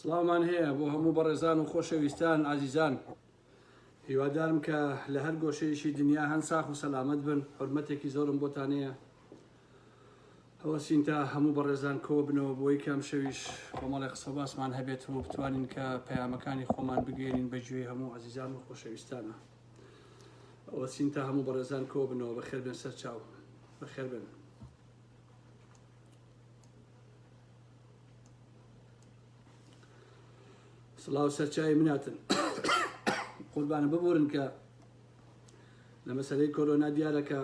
سڵاومان هەیە بۆ هەموو بەڕێزان و خۆشەویستان ئازیزان هیوادارم کە لە هەر گۆشەیەکی دنیا هەن ساخ و سەلامەت بن حرمەتێکی زۆرم بۆتانەیە ئەوە سینتا هەموو بەڕێزان کۆ بنەوە بۆی کام شەویش کۆمەڵی قسە باسمان هەبێت و بتوانین کە پەیامەکانی خۆمان بگەێنین بە گوێی هەموو ئازیزان و خۆشەویستانە ئەوە سینتا هەموو بەڕێزان کۆ بنەوە بە خێربێن سەرچاو بە خێربێن سڵاو سەرچاوی مناتن قوربانە ببورن کە لە مەسلەی کۆرۆنا دیارەکە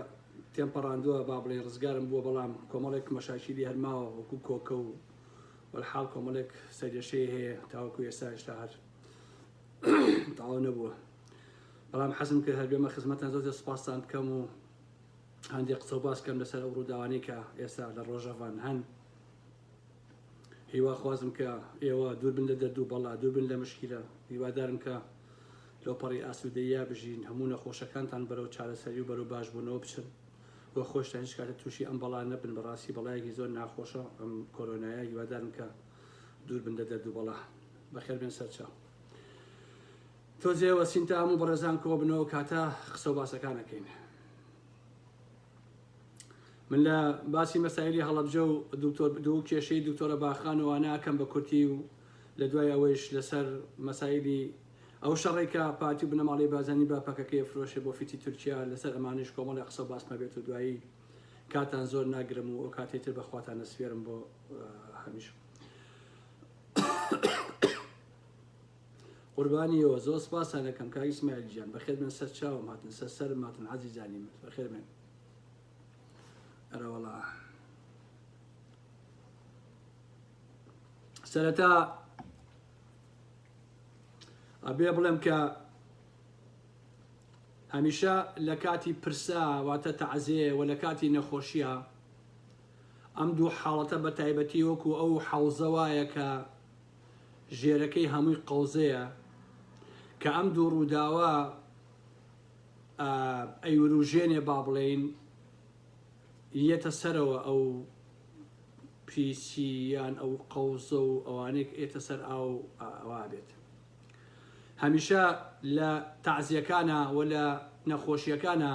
تێم پەڕاندووە با بڵێ ڕزگارم بووە بەڵام کۆمەڵێک مەشاکیلی هەرماوە وەکو کۆکە و وەحاڵ کۆمەڵێک سەرێشەیە هەیە تاوەکو ئێستا هێشتا هەر تاوا نەبووە بەڵام حەزم کرد هەر بێمە خزمەتان زۆر سپاستان بکەم و هەندێ قسە و باس کەم لەسەر ئەو ڕووداوانەی کە ئێستا لە ڕۆژەڤان هەن هیوا خوازم کە ئێوە دووربن لە دەردوو بەڵا دووربن لە مشکیلە هیوادارم کە لەو پەڕی ئاسوودەیە بژین هەموو نەخۆشەکانتان بەرەو چارەسەری و بەرەو باشبوونەوە بچن وە خۆشتان هیچ کاتە تووشی ئەم بەڵا نەبن بەڕاستی بەڵایەکی زۆر ناخۆشە ئەم کۆرۆنایە هیوادارم کە دووربن لە دەردوو بەڵا بەخێربێن سەرچاو تۆزێوە سینتام و بەڕێزان کۆبنەوە کاتە قسە و باسەکانەکەین من لە باسی مەسایلی هەڵەبجە و دکتۆر دوو کێشەی دکتۆرە باخانەوە ناکەم بە کورتی و لە دوای ئەوەیش لەسەر مەسایلی ئەو شەڕێکە پارتی و بنەماڵی بازانی با پەکەکەی فرۆشێ بۆ فیتی تورکیا لەسەر ئەمانش کۆمەڵی قسە و باسمە بێت و دوایی کاتان زۆر ناگرم و ئەو کاتێ تر بەخواتان نەسوێرم بۆ هەمیش قوربانی یۆ زۆر سپاستان دەکەم کاک ئیسماعیل گیان بەخێر بێن سەر چاوم هاتن سەر سەرم هاتن عەزیزانی من بەخێر بێن ئەرەوەڵا سەرەتا ئەبێ بڵێم کە هەمیشە لە کاتی پرسا واتە تەعزێ و لە کاتی نەخۆشیە ئەم دوو حاڵەتە بە تایبەتی وەکو ئەو حەوزە وایە کە ژێرەکەی هەمووی قەوزەیە کە ئەم دوو ڕووداوە ئەیوروژێنێ با بڵێین یەتە سەرەوە ئەو پیسی یان ئەو قەوزە و ئەوانێک ئێتە سەر ئاو ئەوا بێت هەمیشە لە تازیەکانە و لە نەخۆشیەکانە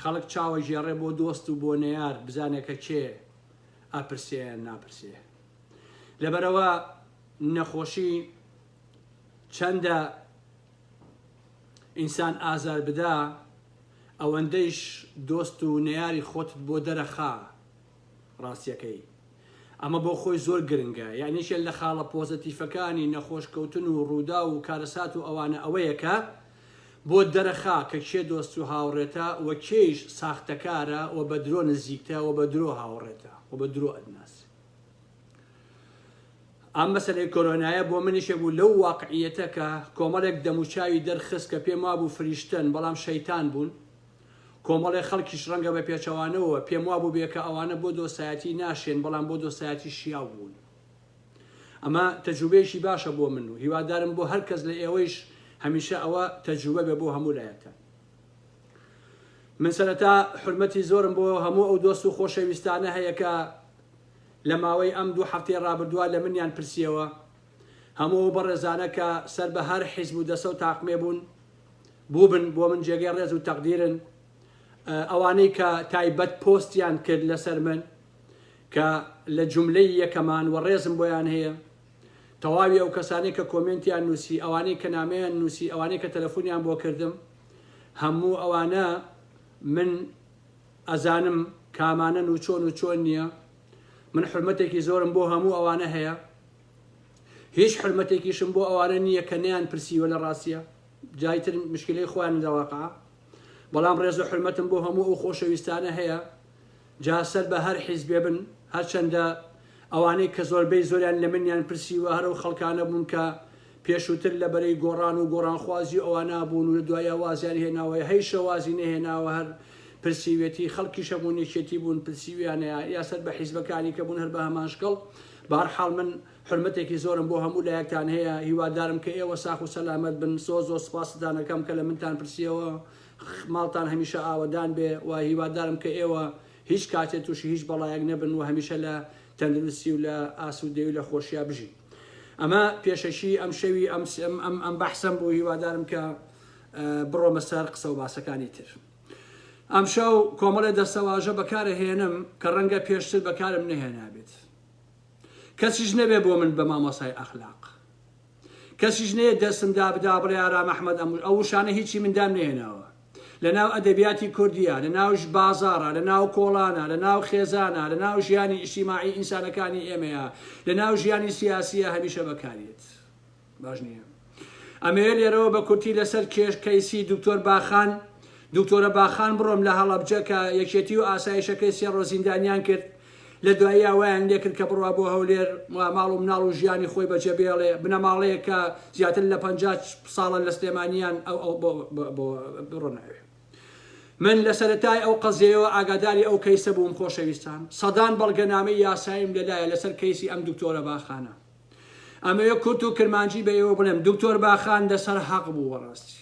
خەڵک چاوە ژێڕێ بۆ دۆست و بۆ نەیار بزانێکە چێ ئەپرسێ ناپرسێ لەبەرئەوە نەخۆشی چەندە ئینسان ئازار بدا ئەوەندەیش دۆست و نەیاری خۆتت بۆ دەرەخا ڕاستیەکەی ئەمە بۆ خۆی زۆر گرنگە یانیشە لە خاڵە پۆزەتیفەکانی نەخۆشکەوتن و ڕوودا و کارەسات و ئەوانە ئەوەیەکە بۆ دەرەخا کە کێ دۆست و هاوڕێتە و کێیش ساختەکارە و بە درۆ نزیکتە و بە درۆ هاوڕێتە و بە درۆ ئەتناس ئەم مەسەلەی کۆرۆنایە بۆ منیش بوو لەو واقعیەتە کە کۆمەڵێک دەموچاوی دەرخست کە پێم وابوو فریشتەن بەڵام شەیتان بوون کۆمەڵێ خەڵکیش ڕەنگە بە پێچەوانەوە پێم وابوو بێ کە ئەوانە بۆ دۆستایەتی ناشێن بەڵام بۆ دۆستایەتی شیاو بوون ئەمە تەجوبەیەکی باشە بۆ من و هیوادارم بۆ هەر کەس لە ئێوەیش هەمیشە ئەوە تەجوبە بێ بۆ هەموو لایەکە من سەرەتا حورمەتی زۆرم بۆ هەموو ئەو دۆست و خۆشەویستانە هەیە کە لە ماوەی ئەم دوو هەفتەی ڕابردووە لە منیان پرسیەوە هەموو ئەو بەڕێزانە کە سەر بە هەر حیزب و دەسە و تاقمێ بوون بووبن بۆ من جێگەی ڕێز و تەقدیرن ئەوانەی کە تایبەت پۆستیان کرد لەسەر من کە لە جوملەی یەکەمان و ڕێزم بۆیان هەیە تەواوی ئەو کەسانەی کە کۆمێنتیان نوسی ئەوانەی کە نامەیان نوسی ئەوانەی کە تەلەفونیان بۆ کردم هەموو ئەوانە من ئەزانم کامانەن و چۆن و چۆن نییە من حرمەتێکی زۆرم بۆ هەموو ئەوانە هەیە هیچ حرمەتێکیشم بۆ ئەوانە نییە کە نیان پرسیوە لە ڕاستیە جایتر مشکلی خوان دەواقع بەڵام ڕێز و حرمەتم بۆ هەموو ئەو خۆشەویستانە هەیە جا سەر بە هەر حیزبێ بن، هەرچەندە ئەوانەی کە زۆربەی زۆریان لە منیان پرسیوە هەر ئەو خەڵکانە بوون کە پێشووتر لە بەرەی گۆڕان و گۆڕانخوازی و ئەوانە بوون و لە دواییە وازیان هێناوە یا هەیشە وازی نەهێناوە هەر پرسیویەتی، خەڵکیش هەموون یەکێتی بوون پرسیویانە یا سەر بە حیزبەکانی کە بوون هەر بە هەمان شکڵ، بەهەرحاڵ من حورمەتێکی زۆرم بۆ هەموو لایەکتان هەیە، هیوادارم کە ئێوە ساخ و سەلامەت بن، زۆر زۆر سوپاستان ئەکەم کە لە منتان پرسیەوە ماڵتان هەمیشە ئاوەدان بێ و هیوادارم کە ئێوە هیچ کاتێ تووشی هیچ بەڵایەک نەبن و هەمیشە لە تەندروستی و لە ئاسوودەی و لە خۆشیا بژین ئەمە پێشەکی ئەم شەوی ئەم ئەم ئەم بەحسەم بوو هیوادارم کە بڕۆمە سەر قسە و باسەکانی تر ئەمشەو کۆمەڵێ دەستەواژە بەکارە هێنم کە ڕەنگە پێشتر بەکارم نەهێنابێت کەسیش نەبێ بۆ من بە مامۆسای ئەخلاق کەسیش نەیەت دەستم دابدا بڵێ ئارام ئەحمەد ئەم و ئەو وشانە هیچی من دام نەهێناوە. لە ناو ئەدەبیاتی کوردیا، لە ناوش بازاڕا، لە ناو کۆڵانا، لە ناو خێزانا، لە ناو ژیانی ئیجتیماعی ئینسانەکانی ئێمەیا، لە ناو ژیانی سیاسیا هەمیشە بەکاریەت. باش نییە. ئەمەوێ لێرەوە بە کورتی لە سەر کێش کەیسی دوکتۆر باخان، دوکتۆرە باخان بڕۆم لە هەڵەبجە کە یەکێتی و ئاسایشەکەی سێ ڕۆژ زیندانیان کرد، لە دواییا وایان لێکرد کە بڕوا بۆ هەولێر و ماڵ و مناڵ و ژیانی خۆی بەجێ بێڵێ، بنەماڵەیەک کە زیاتر لە پەنجا ساڵە لە سلێمانییان بڕۆنە ئەوێ. من لە سەرەتای ئەو قەزیەیەوە ئاگاداری ئەو کەیسە بووم خۆشەویستان، سەدان بەڵگەنامەی یاساییم لە لایە لەسەر کەیسی ئەم دکتۆرە باخانە. ئەمەوێ کورت و کرمانجی بە ئێوە بڵێم، دکتۆر باخان لەسەر هەق بوو بەڕاستی.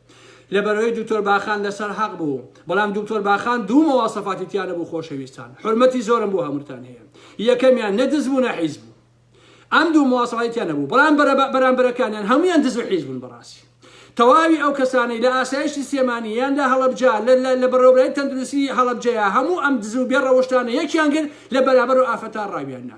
لەبەرئەوەی دوکتۆر باخان لەسەر حەق بوو بەڵام دوکتۆر باخان دوو مواصفاتی تیا نەبوو خۆشەویستان حورمەتی زۆرم بۆ هەمووتان هەیە یەکەمیان نە دز بوو نە حیز بوو ئەم دوو مواصفاتی تیا نەبوو بەڵام بەرامبەرەکانیان هەمویان دز و حیز بوون بەڕاستی تەواوی ئەو کەسانەی لە ئاسایشی سێمانی یان لە هەڵەبجە لە بەڕێوەبرای تەندروستی هەڵەبجەیە هەموو ئەم دز و بێ ڕەوشتانە یەکیان گر لە بەرابەر و ئافەتا ڕاویاننا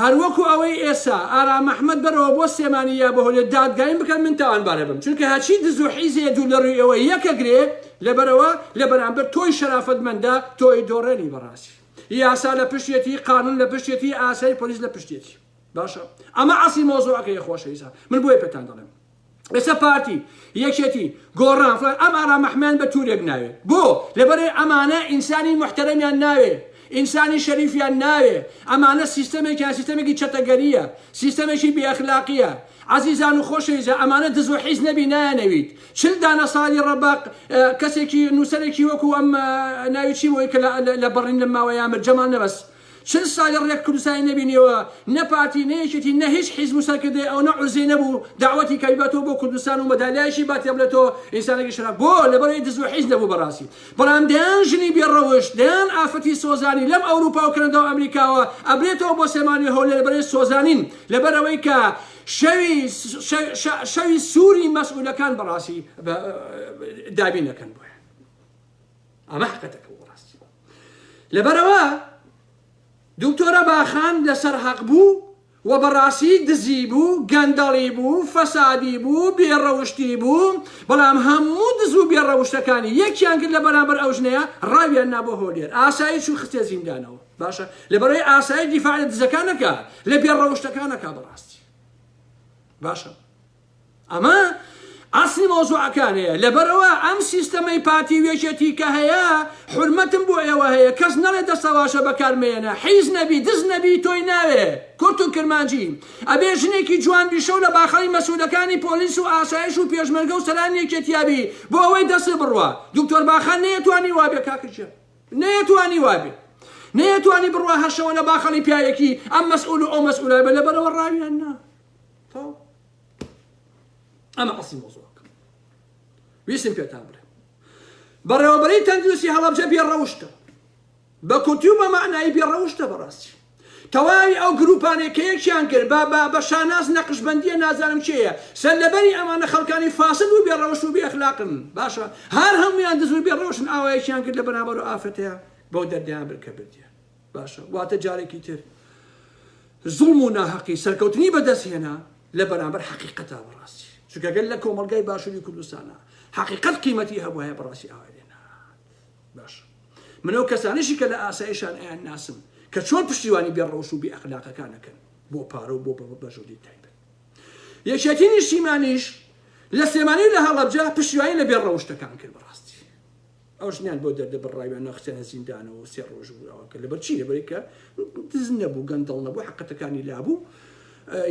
هەروەکو ئەوەی ئێسا ئارام ئەحمەد بەرەوە بۆ سلێمانی یا بەهۆلێ دادگایم بکەن من تاوانبارەبم چونکە هەرچی دزو حیزەیە دوور لەروی ئێوە یەکە گرێ لەبەرەوە لەبەرامبەر تۆی شەرافەت مەندە تۆی دۆڕێنی بەڕاستی یاسا لەپشتیەتی قانون لەپشتیەتی ئاسای پۆلیس لەپشتیەتی باشە ئەمە ئەسڵی مەوزوعەکەیە خۆشەویستان من بۆیە پێتان دەڵێم ئێستا پارتی یەکێتی گۆڕان فلان ئەم ئارام ئەحمەیان بە تورێک ناوێ بۆ لەبەرێ ئەمانە ئینسانی محتەرەمیان ناوێ ئینسانی شەریفیان ناوێ ئەمانە سیستەمێکیان سیستەمێکی چەتەگەریە سیستەمێکی بێئەخلاقیە عزیزان و خۆشەویزە ئەمانە دز و حیز نەبی نایەنەویت چل دانە ساڵی ڕەباق کەسێکی نووسەرێکی وەکو ئەم ناوی چی بۆی کە لە بەڕین لە ماوەیامر جەمال نەبەست چل سالە رێک کوردستانی نەبینیەوە نە پارتی نە یەکێتی نە هیچ حیزب و سەرکردەی ئەونە عوزەی نەبوو دەعوەتی کە بیباتەوە بۆ کوردستان و مەدالیایشی باتێ بلە تۆ ئینسانەکی شەرەف بۆ لەبەرەوەی دز و حیز نەبوو بەراسی بەڵام دەیان ژنی بێ رەوشت دەیان ئافرەتی سۆزانی لەم ئەوروپا و کەنەدا و ئەمریکاوە ئەبرێتەوە بۆ سلێمانی و هەولێر لەبەرەی سۆزانین لەبەرەوەی کە شەوی شەوی سوری مەسئولەکان بەراسی دابین ئەکەن بۆیان. ئەمە حقتەکە بۆ ڕاستی لەبەرەوە دکتۆرە باخان لەسەر حەق بوو و بەڕاستی دزی بوو گەندەڵی بوو فەسادی بوو بێڕەوشتی بوو بەڵام هەموو دز و بێڕەوشتەکانی یەکیان کرد لە بەرامبەر ئەو ژنەیە ڕاویان نابۆ هۆلێر ئاسایی چوو خستێ زیندانەوە باشە لەبەرەوەی ئاسایی دیفاع لە دزەکانەکە لە بێڕەوشتەکانەکە بەڕاستی باشە ئەمە ئەسڵی مەوزوعەکانەیە لەبەرئەوە ئەم سیستەمەی پارتی و یەکێتی کە هەیە حورمەتم بۆ ئێوە هەیە کەس نەڵێ دەستەواشە بەکار مەیەنە حیز نەبی دز نەبی تۆی ناوێ کورت و کرمانجی ئەبێ ژنێکی جوان بی شەو لە باخەڵی مەسولەکانی پۆلیس و ئاسایش و پێشمەرگە و سەرانی یەکێتیا بی بۆ ئەوەی دەستت بڕوا دکتۆر باخان نەیەتوانی وابێ کاکە گیان نەیەتوانی وابێ نەیەتوانی بڕوا هەر شەوە لە باخەڵی پیاوێکی ئەم مەسئول و ئەو مەسئولە بێ لەبەرئەوە ڕاویان نا. تەواو ئەمە ئەسڵی مۆزوعەکە ویستم پێتان بڵێم بەڕێوەبەرەی تەندروستی هەڵەبجە بێ ڕەوشتە بە کورتی و بە معنایی بێ ڕەوشتە بەڕاستی تەواوی ئەو گروپانێک کە یەکیان کرد بە بە بە شاناز نەقشبندیە نازانم چێە سەر لەبەری ئەمانە خەڵکانی فاسد و بێ ڕەوشت و بێ ئەخلاقن باشە هەر هەمویان دزور بێ ڕەوشن ئاوایەکیان کرد لە بەرامبەر و ئافرەتەیە بەو دەردیان برکە بردیە باشە واتە جارێکی تر زوڵم و ناهەقی سەرکەوتنی بەدەست هێنا لە بەرامبەر حقیقەتا بەڕاستی چکەگەل لە کۆمەلگای باشووری کوردستانە حقیقەت قیمەتی هەبواە بەڕاستی ئاوای لێنا باش منەوە کەسانیشی کە لە ئاسایشان ئەیان ناسم کە چۆن پشتیوانی بێ ڕەوش و بێ ئەخلاقەکانەکەن بۆ پارە و بۆ بەژووری تایبەت یەکێتی نیشتیمانیش لە سلێمانی لە هەڵەبجە پشتیوانی لە بێ ڕەوشتەکان کرد بەڕاستی ئەو ژنەیان بۆ دەردەبڕراویان ناخستیانە زیندانەوە و سێ ڕۆژ و ئەوان کرد لەبەر چی لەبەرەی کە دز نەبوو گەندەڵ نەبوو حەقەتەکانی لابوو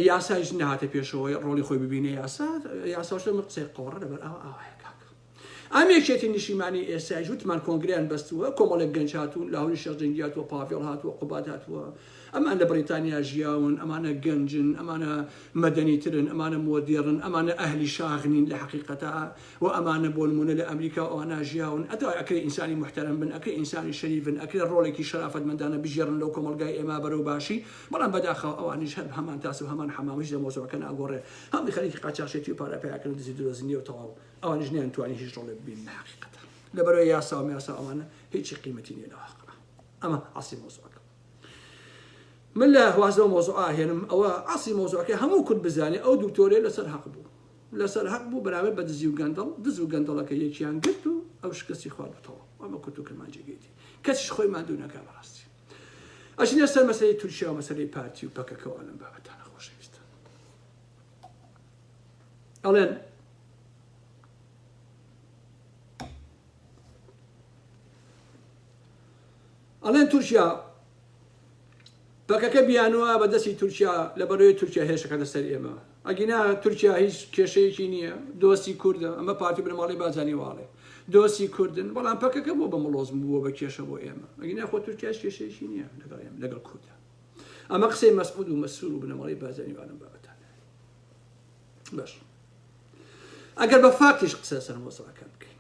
یاسایش نەهاتە پێشەوەی ڕۆڵی خۆی ببینە یاسا یاساش لەمە قسەی قۆڕە لەبەر ئەوە ئاوایە کاکە ئەم یەکێتی نیشیمانی ئێستایش وتمان کۆنگریان بەستووە کۆمەڵێک گەنج هاتوون لە هەوری شەش دەنگیات و پاڤێڵ هاتووە قوبات هاتووە ئەمان لە بریتانیا ژیاون ئەمانە گەنجن ئەمانە مەدەنی ترن ئەمانە مۆدێڕن ئەمانە ئەهلی شاغنین لە حقیقەتە وە ئەمانە بۆ نمونە لە ئەمریکا و ئەوانە ژیاون ئەدا ئەکرێ ئینسانی موحتەرەم بن ئەکرێ ئینسانی شەریفن ئەکرێ ڕۆڵێکی شەرافەتمەندانە بگێڕن لەو کۆمەڵگای ئێمە بەرەو باشی بەڵام بەداخەوە ئەوانیش هەر هەمان تاس و هەمان حەمام هیچ لە مەوزوعەکە ناگۆڕێ هەمووی خەریکی قاچاخچێتی و پارە پەیاکردن و دزی درۆزنیە و تەواو ئەوانیش نەیان توانی هیچ ڕۆڵێ ببیننە حەقیقەتە لە بەرەو یاسا و میاسا ئەوانە هیچی قیمەتی نیە لە واقعا ئەمە ئەسڵی مەوزوعەکە من لە واز لەو مەوزوعە ئاهێنم ئەوە ئەسڵی مەوزوعەکە هەموو کورد بزانێ ئەو دوکتۆرەیە لەسەر هەق بوو لەسەر هەق بوو بەراورد بە دزی و گەندەڵ، دز و گەندەڵەکە یەکیان گرت و ئەو شکستی خوارد و تەواو، وا بە کورت و کرمانجی گێتی، کەسیش خۆی ماندوو نەکا بەڕاستی ئەچینە سەر مەسەلەی تورکیا و مەسەلەی پارتی و پەکەکە و ئەو لەم بابەتانە خۆشەویستان ئەڵێن ئەڵێن تورکیا پەکەکە بیانوە بە دەستی تورکیا لە بەرۆی تورکیا هێرشەکاتە سەر ئێمە ئەگینا تورکیا هیچ کێشەیەکی نییە دۆستی کوردە ئەمە پارتی بنەماڵەی بازانی واڵێ دۆستی کوردن بەڵام پەکەکە بۆ بە مڵۆز بووە بە کێشە بۆ ئێمە ئەگینا خۆ تورکیا هیچ کێشەیەکی نییە لەگەڵ ئێمە لەگەڵ کوردە ئەمە قسەی مەسعود و مەسرور و بنەماڵەی بازانی وانم بابەتان باش ئەگەر بە فاکتیش قسە لەسەر مۆزەکان بکەین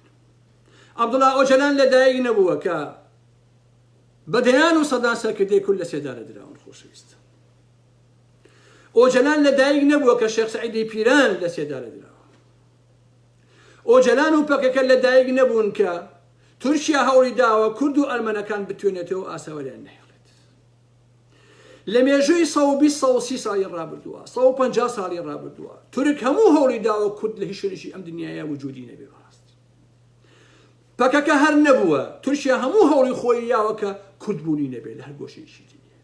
عەبدوڵا ئۆجەلان لەدایک نەبووە کە بە دەیان و سەدان سەرکردەی کورد لە سێدارە دراون خۆشەویست ئۆجەلان لەدایک نەبووە کە شێخ سعیدی پیران لە سێدارە دراوە ئۆجەلان و پەکەکە لەدایک نەبوون کە تورکیا هەوڵی داوە کورد و ئەرمەنەکان بتوێنێتەوە ئاساوەریان نەهێڵێت لە مێژووی سەد و بیست سەد و سی ساڵی ڕابردووە، سەد و پەنجا ساڵی ڕابردووە، تورک هەموو هەوڵی داوە کورد لە هیچ شوێنێکی ئەم دنیایە وجودی نەبێ بەڕاستی پەکەکە هەر نەبووە، تورکیا هەموو هەوڵی خۆی یاوە کە کورد بوونی نەبێ لە هەر گۆشەیەکی دنیا.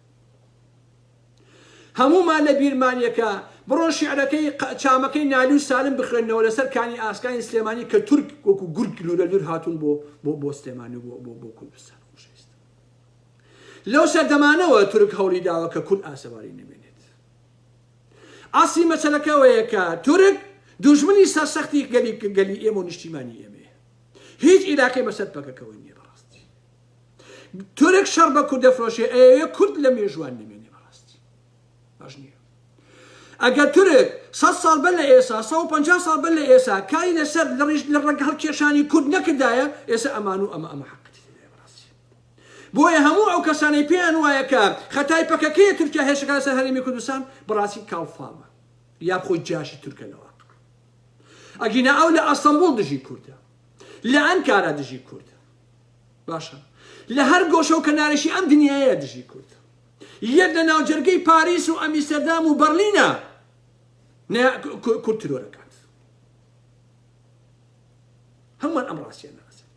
هەموومان لە بیرمانیەکە بڕۆن شیعرەکەی چامەکەی نالی و سالم بخوێنەوە لەسەر کانی ئاسکانی سلێمانی کە تورک وەکو گورگ لورە لور هاتوون بۆ بۆ بۆ سلێمانی و بۆ بۆ بۆ کوردستان لەو سەردەمانەوە تورک هەوڵی داوە کە کورد ئاسەواری نەمێنێت. ئەسڵی مەسەلەکە ئەوەیە کە تورک دوژمنی سەرسەختی گەلی گەلی ئێمە و نیشتیمانی ئێمەیە. هیچ ئیلاقەی بەسەر پەکەکەوە نییە بەڕاستی. تورک شەڕ بە کورد دەفرۆشێ ئەیەوێ کورد لە مێژوان نەمێنێ بەڕاستی. باش نییە. ئەگەر تورک سەد ساڵ بەر لە ئێسا سە و پەنجا ساڵ بەر لە ئێسا کاری لەسەر لە ڕیژ لە ڕەنگ هەڵکێشانی کورد نەکردایە ئێسا ئەمان و ئەمە ئەمە حەقەتی تێدایە بەڕاستی. بۆیە هەموو ئەو کەسانەی پێیان وایە کە خەتای پەکەکەیە تورکیا هێرشەکە لەسەر هەرێمی کوردستان بەڕاستی کاڵ فامە یاب خۆی جاشی تورکە لە واقع ئەگینا ئەو لە ئەستەمبوڵ دژی کوردە لە ئەنکارا دژی کوردە باشە لە هەر گۆشە و کەنارێکی ئەم دنیاە دژی کورد یەک لە ناوجەرگەی پاریس و ئەمیستەردام و بەرلینە کورد ترۆرەکە هەمووان ئەم ڕاستیان ناسن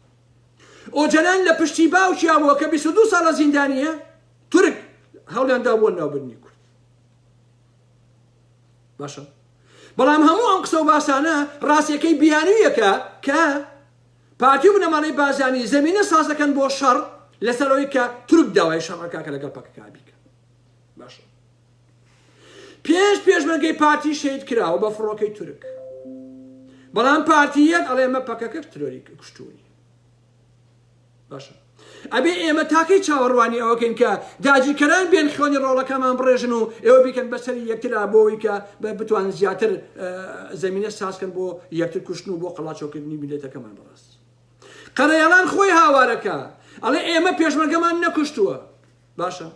ئۆجەلان لە پشتی باوکیان بووە کە 22 ساڵە زیندانیە تورک هەڵیاندا بۆ ناوبرنی کورد باشە بەڵام هەموو ئەم قسە و باسانە ڕاستیەکەی بیانویەکە کە پارتی و بنەماڵەی بازانی زمینە سازەکەن بۆ شەڕ لەسەرەوەی کە تورک داوای شەڕەکە کە لەگەڵ پەکەکە بیکە باشە پێنج پێشمەرگەی پارتی شەهید کراوە بە فڕۆکەی تورک بەڵام پارتی یەک ئەڵێ ئەمە پەکەکە ترۆری کوشتوونی باشە ئەبێ ئێمە تاکەی چاوەڕوانی ئەوەکەین کە داجیکەران بێن خوێنی ڕۆڵەکەمان بڕێژن و ئێوە بیکەن بەسەری یەکترا بۆەوەی کە بە بتوان زیاتر زمینە سازکەن بۆ یەکتر کوشتن و بۆ قەڵاچۆکردنی میلەتەکەمان بەڕاست قەرەیەڵان خۆی هاوارەکە ئەڵێ ئێمە پێشمەرگەمان نەکوشتووە باشە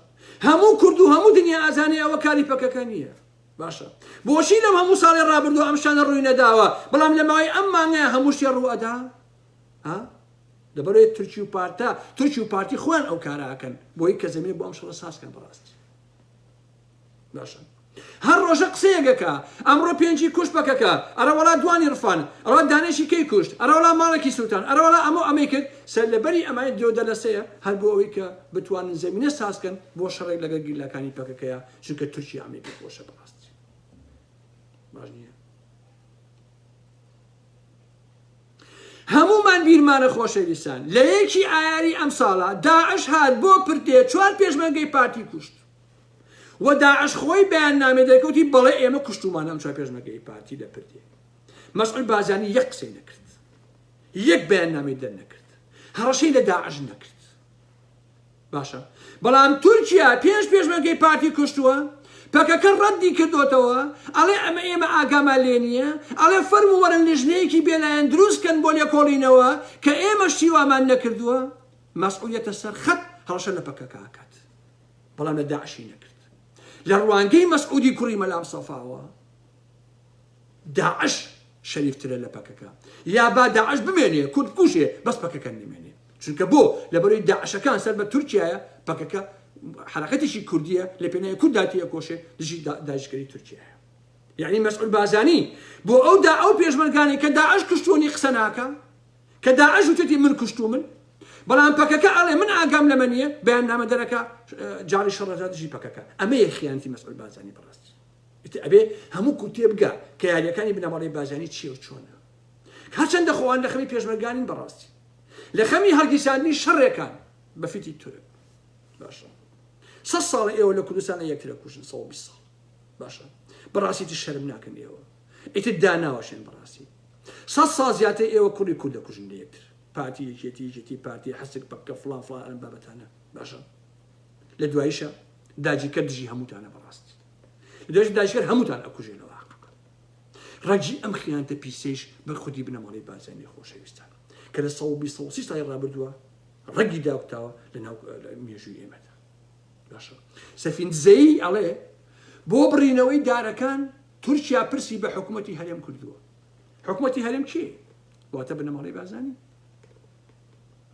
هەموو کورد و هەموو دنیا ئەزانێ ئەوە کاری پەکەکە نییە. باشە بۆچی لەم هەموو ساڵی ڕابردوو ئەم شانە ڕووی نەداوە بەڵام لە ماوەی ئەم مانگەیە هەموو شتێ ڕوو ئەدا؟ ها؟ لەبەرەوەی تورکی و پارتە تورکی و پارتی خۆیان ئەو کارە ئەکەن بۆی کە زەمینە بۆ ئەم شەڕە ساز کەن بەڕاستی. باشە هەر ڕۆژە قسەیەگەکە ئەمڕۆ پێنجی کوشت پەکەکە ئەرەوەڵا دوانی ڕفان ئەوە دانێکی کەی کوشت ئەرەوەڵا ماڵێکی سووتان ئەرەوەڵا ئەمە ئەمەی کرد سەر لەبەری ئەمای درۆ دەلەسەیە هەر بۆ ئەوەی کە بتوانن زەمینە سازکەن بۆ شەڕێک لەگەر گیلاکانی پەکەکەیە چونکە تورکیا ئەمەی کرد بۆشە بەڕاست باش نییە هەمومان بیرمانە خۆشەویستان لە یەکی ئایاری ئەم ساڵە داعش هات بۆ پرتێ چوار پێشمەرگەی پارتی کوشت وە داعش خۆی بەیان نامەی دەرکەوتی بەڵێ ئێمە کوشتومان ئەم چوار پێشمەرگەی پارتی لە پردێ مەسعود بارزانی یەک قسەی نەکرد یەک بەیان نامی دەر نەکرد هەڕەشەی لە داعش نەکرد باشە بەڵام تورکیا پێش پێشمەرگەی پارتی کوشتووە پەکەکە ڕەدی کردوتەوە ئەڵێ ئەمە ئێمە ئاگامان لێ نییە ئەڵێ فەرم وەرە لژنەیەکی بێلایەن دروستکەن بۆ لێکۆڵینەوە کە ئێمە شیوامان نەکردووە مەسئولیتە سەر خەت هەڵشە لە پەکەکە ئاکات بەڵام لە داعشی نەکرد لە ڕوانگەی مەسعودی کوڕی مەلام سەفاوە داعش شەریفترە لە پەکەکە یا با داعش بمێنێ کورد کوشێ بەس پەکەکە نمێنێ چونکە بۆ لە بەرەی داعشەکان سەر بە تورکایە پەکەکە حرەکەتێکی کوردیە لە پێنای کورداتیە کۆشێ دژی داژکەری تورکیە یعنی مەسعود بازانی بۆ ئەو دا ئەو پێشمەرگانی کە داعش کشتوانی قسە ناکە کە داعش وتێتی من کوشتومن، بەڵام پەکەکە ئەڵێ من ئاگام لەمە نییە، بەیاننامە دەرەکە جاڕی شەڕەدا دژی پەکەکە، ئەمەیە خیانەتی مەسعود بارزانی بەڕاستی. ئیتر ئەبێ هەموو کورد تێبگا کە یارییەکانی بنەماڵەی بارزانی چییە و چۆنە. هەرچەندە خۆان لە خەمی پێشمەرگانین بەڕاستی. لە خەمی هەڵگیرساندنی شەڕێکان بە فیتی تورک. باشە. سەد ساڵە ئێوە لە کوردستان یەکتر ئەکوژن، سەد و بیست ساڵ. باشە. بەڕاستیتر شەرم ناکەن ئێوە. ئیتر داناوەشێن بەڕاستی سەد ساڵ زیاتر ئێوە کوڕی کورد دەکوژن لە یەکتر پارتی یەکێتی یەکێتی پارتی حەسک پەککە فڵان فڵان ئەم بابەتانە باشە لە دوایشە داجیکە دژی هەمووتانە بەڕاستی لە دوایش داجکەر هەمووتان ئەکوژێنەوە ڕەجی ئەم خیانتە پیسەیش بە خودی بنەماڵی بازانی خۆشەویستان کە لە ساڵ ساڵی ڕابردووە ڕەگی داکتاوە لە ناو مێژووی ئێمەدا باشە سەفیندزەیی ئەڵێ بۆ بڕینەوەی دارەکان تورکیا پرسی بە حکوومەتتی هەرێم کردووە حکوومەتتی هەرێم کێ واتە بنەماڵی بازانی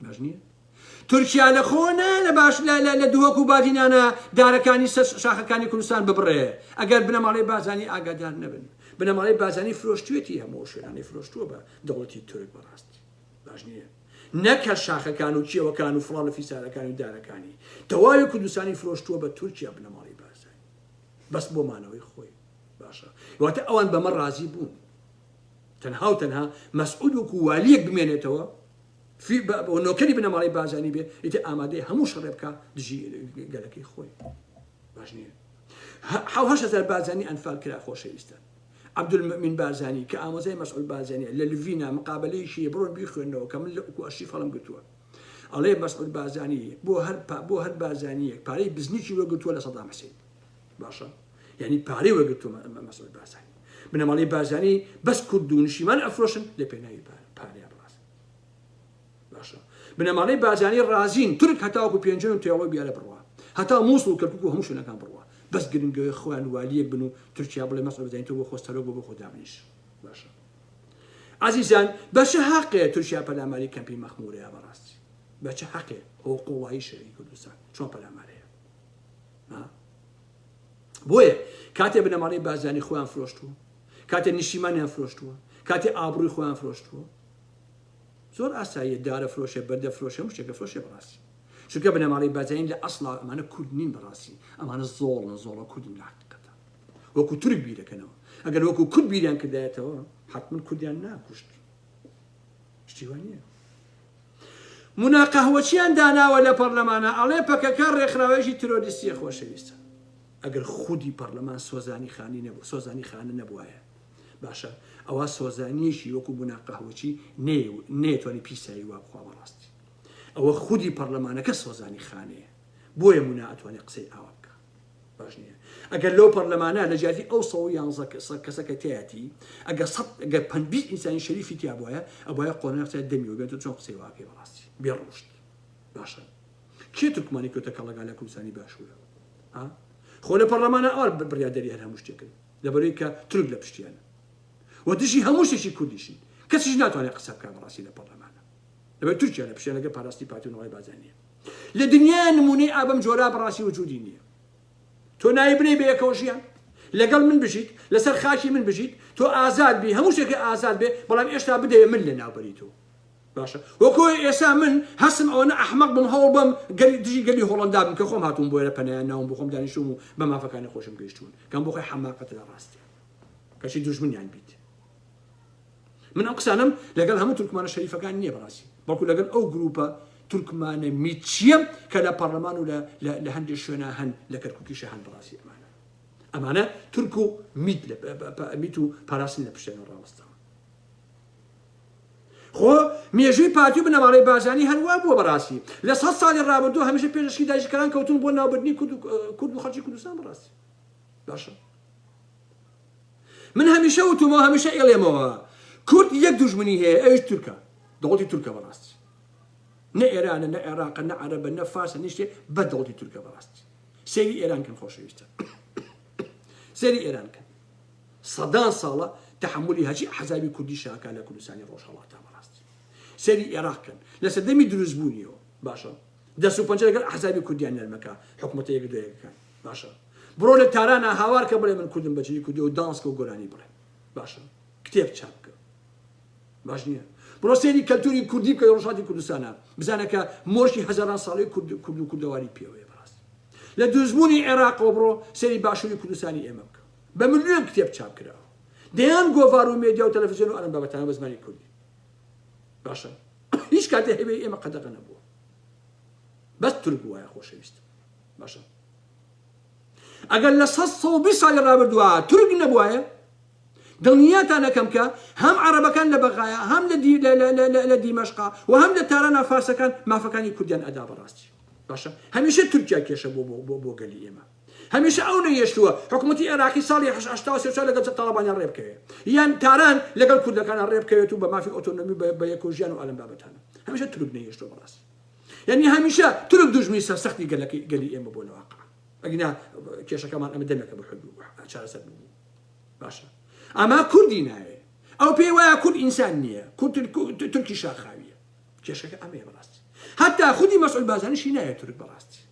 باش نییە تورکیا لە خۆنا لە باش لە دووەک و بادینانە دارەکانی سەر شاخەکانی کوردستان ببڕێ ئەگەر بنەماڵی بازانی ئاگادار نەبن بنەماڵی بازانی فرۆشتوێتی هەموو شوێنانی فرۆشتووە بە دەوڵەتی تورک بەڕاستی باش نیە نەک هەر شاخەکان و کێوەکان و فڵان و فیسارەکانی و دارەکانی تەواوی کوردستانی فرۆشتووە بە تورکیا بنەماڵی بارزانی بەس بۆ مانەوەی خۆی باشە واتە ئەوان بەمە ڕازی بوون تەنها و تەنها مەسعود وکو والیەک بمێنێتەوە نۆکەری بنەماڵی بازانی بێ ئیتە ئامادەی هەموو شەڕێ بکە دژی گەلەکەی خۆی باش نیە هەهزار بازانی ئەنفال کرا خۆشەویستە عبدالمومین بارزانی کە ئامۆزای مەسعود بارزانیە لە لڤینا مقابەلەیشی هەیە بڕۆن بیخوێنەوە کە من لە ئوکو ئەرشیف هەڵم گرتووە ئەڵێ مەسعود بارزانی بۆ هەر پا بۆ هەر بارزانیەک پارەی بزنیکی وەرگرتووە لە سەدام حسین باشە یعنی پارەی وەرگرتووە مەسعود بارزانی بنەماڵەی بارزانی بەس کورد و نیشتیمان ئەفرۆشن لە پێناوی پارە پارەیان باشە بنەماڵەی بارزانی ڕازین تورک هەتاوەکو پێنجوێن و تێڵۆی بیارە بڕوا هەتا موسڵ و کەرکوک و هەموو شوێنەکان بڕوا بەس گرنگەوەی خۆیان والیەک بن و تورکیا بڵێ مەسعود بەرزانی تۆ بۆ خۆت سەرۆک بۆ بۆ خۆ دابنیش باشە عزیزان بە چ حەقێ تورکیا پەلاماری کەمپی مەخمورەیە بەڕاستی بە چ حەقێ هۆ قوڵایی شەوی کوردستان چۆن پەلامارەیە بۆیە کاتێ بنەماڵەی بازانی خۆیان فرۆشتووە کاتێ نیشیمانیان فرۆشتووە کاتێ ئابڕووی خۆیان فرۆشتووە زۆر ئاساییە دارە فرۆشێ بەردە فرۆشێ هەموو شتێکە فرۆشێ بەڕاستی چونکە بنەماڵەی بەرزنین لە ئەسڵا ئەمانە کورد نین بەڕاستی ئەمانە زۆڵن زۆڵە کوردن لە حەقیقەتا وەکو تورک بیرەکەنەوە ئەگەر وەکو کورد بیریان کردایەتەوە حتمن کوردیان ناکوشت شتی وا نییە مونا قەهوەچیان داناوە لە پەرلەمانە ئەڵێ پەکەکە ڕێکخراوێژی ترۆریستیە خۆشەویستە ئەگەر خودی پەرلەمان سۆزانی خانی نەبوو سۆزانی خانە نەبوایە باشە ئەوا سۆزانیەکی وەکو بونا قەهوەچی نەیەتوانی پیسایی وا بخوا بەڕاستی ئەوە خودی پەرلەمانەکە سۆزانی خانەیە بۆیە مونا ئەتوانێت قسەی ئاوا بکە باش نییە ئەگەر لەو پەرلەمانە لە جیاتی ئەو سەوە یان کەسەکە تیاتی ئەگە سە گە پبی ئینسانی شەریفی تیا بواە ئەبە قۆنە قسە دەمیەوە بێت چۆن قسەی واکەی بەڕاستی بێ ڕۆشت باشە کێ تورکمانی کۆتە کەڵەگا لە کوردستانی باشوورە خۆ لە پەرلەمانە ئار بڕیادەری هەر هەموو شتێکن لەبەرەوەی کە تورک لە پشتیانە و دژی هەموو شتێکی کوردیشن کەسیش ناتوانێت قسە بکات بەڕاستی لە پەڕلەمانە لەبەر تورکیا لە پشتیان لەگە پاراستی پارتی و نەوای بازرگان نییە لە دنیا نمونەی ئابم جۆرا بەڕاستی وجودی نییە تۆ ناوی بنەی بە یەکەوە ژیان لەگەڵ من بژیت لەسەر خاکی من بژیت تۆ ئازاد بی هەموو شتێکی ئازاد بێ بەڵام ئێشتا بدەیە من لە ناوبەری تۆ باشە وەکۆ ئێسا من هەستم ئەوەنە ئەحمەق بم هەوڵ بەم گەلی دژی گەلی هۆڵەندا بم کە خۆم هاتووم بۆێرە پەنایان ناوم بۆ خۆم دانیشتووم و بە مافەکانی خۆشم گەیشتوون کەم بۆ خۆی حەماقەتە لە ڕاستیان کەچی دوژمنیان بیت من ئەو قسانم لەگەڵ هەموو تورکمانە شەریفەکان نییە بەڕاستی بەڵکو لەگەڵ ئەو گروپە تورکمانە میچیە کە لە پەرلەمان و لە هەندێک شوێنە هەن لە کەرککیشە هەن بەڕاستی ئەمانە ئەمانە تورک و میت و پاراستن لە پشتێنە ڕاوەستەوە خۆ مێژووی پارتی و بنەماڵەی بارزانی هەر وا بووە بەڕاستی لە سەد ساڵی ڕابردوو هەمیشە پێش ئەشقی داگیرکەران کەوتوون بۆ ناوبردنی کورد و کورد و خەڵکی کوردستان بەڕاستی باشە من هەمیشە وتومەوە هەمیشە ئێڵێمەوە کورد یەک دوژمنی هەیە ئەوش تورکە دەوڵەتی تورکە بەڕاستی نە ئێرانە نە عێراقە نە عەرەبە نە فارسە نیشتێ بە دەوڵەتی تورکە بەڕاستی سێری ئێران کەن خۆشەویستە سێری ئێران کەن سەدان ساڵە تەحەمولی هەرچی ئەحزابی کوردی شاکا لە کوردستانی ڕۆژهەڵاتە بەڕاستی سەیری ئێراق کەن لە سەردەمی دروست بوونیەوە باشە دەست و پەنجە لەگەڵ ئەحزابی کوردیان نەرمەکە حکومەتە یەک دوێکەکان باشە بڕۆ لە تارانە هاوار کە بڵێ من کوردم بەجلی کوردی و دانسکە و گۆرانی بڵێ باشە کتێب چاپ بکە باش نیە بڕۆ سەیری کەلتوری کوردی بکە لە ڕۆژهەڵاتی کوردستانا بزانە کە مۆرکی هەزاران ساڵەی کورد کورد و کوردەواریت پێوەیە بەڕاست لە دروستبوونی عێراقەوە بڕۆ سەیری باشوری کوردستانی ئێمە بکە بە ملیۆن کتێب چاپ کراوە دەیان گۆڤار و مێدیا و تەلەفزیۆن و ئەلەم بابەتانە بە زمانی کوردی باشە هیچ کاتێ هەبێ ئێمە قەدەغە نەبووە بەس تورک بووایە خۆشەویست باشە ئەگەر لە سەد سەد و بیست ساڵی ڕابردووا تورک نەبوایە، دڵنیاتان ئەکەم کە هەم عەڕەبەکان لە بەغایا هەم لە دیمەشقا و هەم لە تارانا فارسەکان مافەکانی کوردیان ئەدا بەڕاستی باشە هەمیشە تورکیا کێشە بووە بۆ بۆ بۆ گەلی ئێمە هەمیشە ئەو نەیەشتووە حکومەتی عێراقی ساڵی هەشتا و سێ و چوار لەگەڵ تاڵەبانیان ڕێ بکەوێ یان تاران لەگەڵ کوردەکانە ڕێ بکەوێت و بە مافی ئۆتۆنۆمی بە بە یەک و ژیان و ئەلەم بابەتانە هەمیشە تورک نەیەشتووە بەڕاستی یانی هەمیشە تورک دوژمنی سەرسەختی گەلەکەی گەلی ئێمە بۆ لەواقع ئەگینا کێشەکەمان ئەمە دەمێکە بە حلو چارەسەر بوو باشە ئەما کوردی ناوێ ئەو پێی وایە کورد ئینسان نییە کورد تورکی شاخاویە کێشەکە ئەمەیە بەڕاستی هەتا خودی مەسئول بازانشی نایە تورک بەڕاستی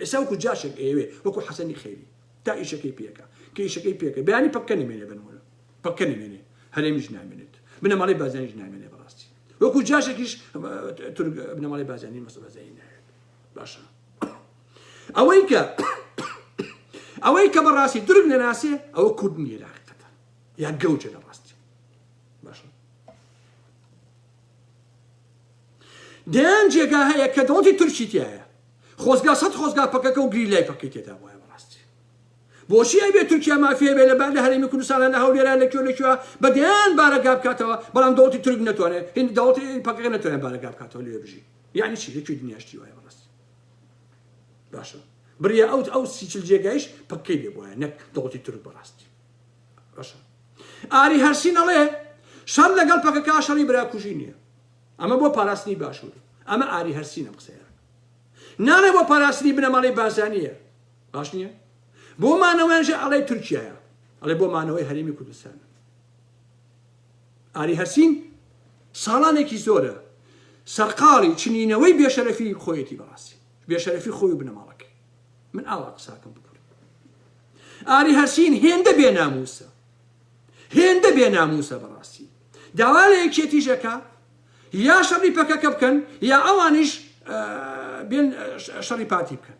ئێسا وەکو جاشێک ئەیەوێ وەکو حەسەنی خەیری تا ئیشەکەی پێکە کە ئیشەکەی پێکە بیانی پەکەنی مێنێ بنمونە پەکەنی مێنێ هەرێمیش نامێنێت بنەماڵی بازانیش نامێنێ بەڕاستی وەکو جاشێکیش تورک بنەماڵەی بازانی مەسە بازانی ناوێت باشە ئەوەی کە ئەوەی کە بەڕاستی تورک نەناسێ ئەوە کورد نیە لە حقیقەتە یا گەوجە لە ڕاستی باشە دەیان جێگا هەیە کە دەوڵەتی تورکی تایە خۆزگا سەد خۆزگا پەکەکە و گری لای پەکەی تێدا وایە بۆچی ئەبێت تورکیا مافی هەبێت لە بان لە هەرێمی کوردستانا لە هەولێرا لە کوێ لە کوێ بە دەیان بارەگا بکاتەوە بەڵام دەوڵەتی تورک نەتوانێ هیند دەوڵەتی پەکەکە نەتوانێ بارەگا بکاتەوە لەوێ بژی یانی چی لە کوێ دنیا شتی وایە بەڕاستی باشە بریا ئەوت ئەو سیچل جێگایش پەکەی لێ بوایە نەک دەوڵەتی تورک بەڕاستی باشە ئاری هەرسین ئەڵێ شەڕ لەگەڵ پەکەکە شەڕی براکوژی نییە ئەمە بۆ پاراستنی باشوور ئەمە ئاری هەرسینە قسەیە ناڵێ بۆ پاراستنی بنەماڵەی بازانیە باش نیە؟ بۆ مانەوەیان ژە ئەڵێ تورکیایە ئەڵێ بۆ مانەوەی هەرێمی کوردستان ئاری هەرسین ساڵانێکی زۆرە سەرقاڵی چنینەوەی بێشەرەفی خۆیەتی بەڕاستی بێشەرەفی خۆی و بنەماڵەکەی من ئاوا قساکەم بکورد ئاری هەرسین هێندە بێ ناموسە هێندە بێ ناموسە بەڕاستی داوا لە یەکێتی ژەکە یا شەڕی پەکەکە بکەن یا ئەوانیش بێن شەڕی پارتی بکەن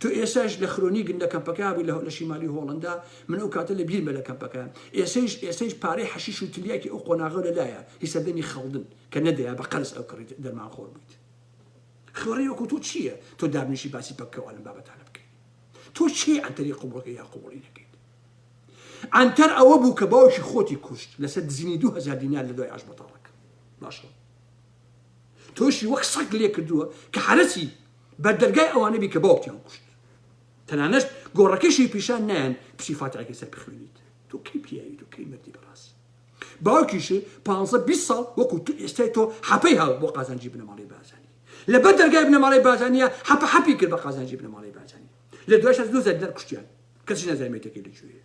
تۆ ئێساش لە خرۆنیگن لە کەمپەکە بووی لە شیمالی هۆڵندا من ئەو کاتە لە بیرمە لە کەمپەکەیان ئێسەیش ئێسەیش پارەی حەشیش و تلیاکی ئەو قۆناغە لەلایە هی سەردەمی خەڵدن کە نەدەیا بە قەرز ئەو کڕیت دەرمان خۆر بوویت خوێڕی وەکو تۆ چییە تۆ دابنیشی باسی پەککەوە لەم بابەتانە بکەیت تۆ چی ئەنتەری قوبڵەکە یا قوبڵی نەکەیت ئەنتەر ئەوە بوو کە باوکی خۆتی کوشت لەسەر دزینی دوهزار دینار لە دوای ئاش بەتاڵەکە باشە تۆشی وەک سەگ لێکردووە کە حەرەسی بەر دەرگای ئەوانە بی کە باوکتیان کوشت تەنانەشت گۆڕەکەشی پیشان نایەن بچی فاتحەکەی سەر بخوێنیت تۆ کەی پیاوی تۆ کەی مەردی بەڕاستی باوکیشی پانزە بیست ساڵ وەکو تو ئێستای تۆ حەپەی هاو بۆ قازانجی بنەماڵەی بازانی لەبەر دەرگای بنەماڵەی بازانیە حەپە حەپی کرد بە قازانجی بنەماڵەی بازانی لە دوایش هەز دوو زەردار کوشتیان کەسی نەزانێتەکەی لەکوێیە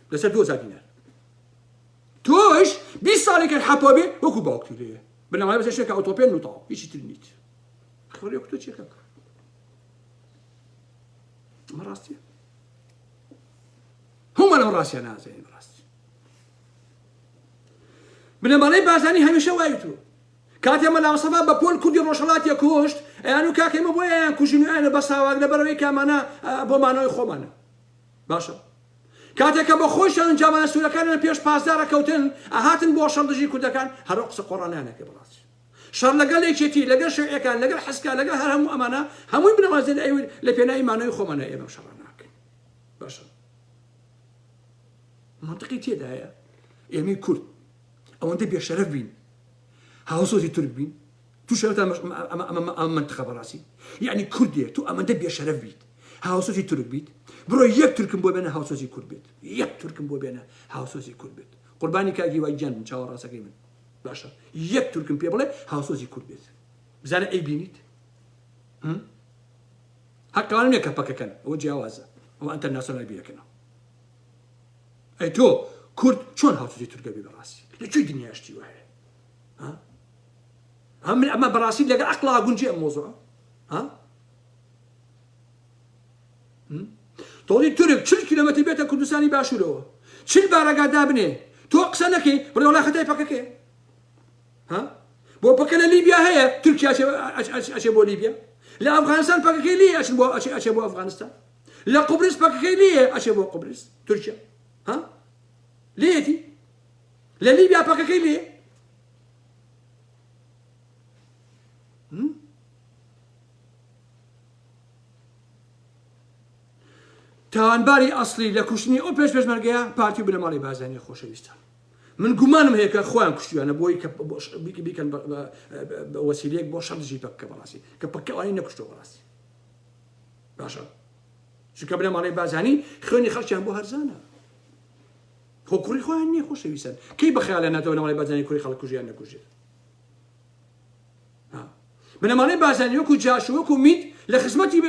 لەسەر دوو هەزار دینار تۆش بیست ساڵێکت حەپا بێ وەکو باوکتی لێیە بنەمای بەسەر شێکە ئۆتۆپێن و تاو هیچی تر نیت خۆری کتۆ چێکە ئەمە ڕاستیە هەموو لەم ڕاستیان نازێن ڕاستی بنەماڵەی بازانی هەمیشە وای تو کاتێ مەلاوسەبا بە پۆل کوردی ڕۆژهڵاتیە کوشت ئەیان و کاکەمە بۆیان کوژنیانە بە ساواک لە بەرەوەی کامانە بۆ مانەوەی خۆمانە باشە کاتێ کە بە خۆیشان جامانە سورەکانیان پێش پاسدار ئەکەوتن ئەهاتن بۆ شەڕ دژی کوردەکان هەر ئەو قسە قۆڕانەیان ئەکرد بەڕاست شەڕ لەگەڵ یەکێتی لەگەڵ شیوعیەکان لەگەڵ حەسکا لەگەڵ هەر هەموو ئەمانە هەمووی بنەمازێن ئەوی لە پێناوی مانەوەی خۆمانە ئێمە شەڕ ناکەین باشە منطقی تێدایە ئێمەی کورد ئەوەندە بێشەرەف بین هاوسۆزی تورک بین تو شەرەفت ئەمە مەنتقە بەڕاستی یەعنی کوردێ تو ئەمەندە بێشەرەف بیت هاوسۆزی تورک بیت بڕۆ یەک تورکم بۆ بێنە هاوسۆزی کورد بێت یەک تورکم بۆ بێنە هاوسۆزی کورد بێت قوربانی کاک هیوای گیان بم چاوە ڕاستەکەی من باشە یەک تورکم پێ بڵێ هاوسۆزی کورد بێت بزانە ئەی بینیت هەقەوانە نیە کە پەکەکەن ئەوە جیاوازە ئەوە ئەتەرناسیۆنال بیرەکەنەوە ئەی تۆ کورد چۆن هاوسۆزی تورکە بێ بەڕاستی لە کوێی دنیاشتی وایە ها من ئەمە بەڕاستی لەگەڵ عقلا گونجێ ئەم مۆزوعە ها تۆڵی تورک چل کیلومتر بێتە کوردستانی باشوورەوە چل بارەگا دابنێ تۆ قسە نەکەی بڕێوڵای خەتای پەکەکەی ها بۆ پەکە لە لیبیا هەیە تورکیا ئەچێ بۆ لیبیا لە ئەفغانستان پەکەکەی لێ ئەچن بۆ ئەچێ ئەچێ بۆ ئەفغانستان لە قوبرس پەکەکەی لێ ئەچێ بۆ قوبرس تورکیا ها لێتی لە لیبیا پەکەکەی لێ تاوانباری ئەسلی لە کوشتنی ئەو پێش پێشمەرگەیە پارتی و بنەماڵی بازانانی خۆشەویستە من گومانم هەیە کە خۆیان کوشتیانە بۆی کە بیکەن وەسیلەیەک بۆ شەمزی پەکە بەڕاستی کە پکەوانی نەکوشتەوە بەڕاستی باشە چونکە بنەماڵی بازانی خوێنی خەڵکیان بۆ هەرزانە خۆ کوڕی خۆیان نییە خۆشەویستن کەی بەخیالیان ناتەوە نەماڵەی بارزانی کوڕی خەڵک کوژیان نەکوژێت بنەماڵەی بارزانی وەکو جاش و وەکو میت لە خزمەتی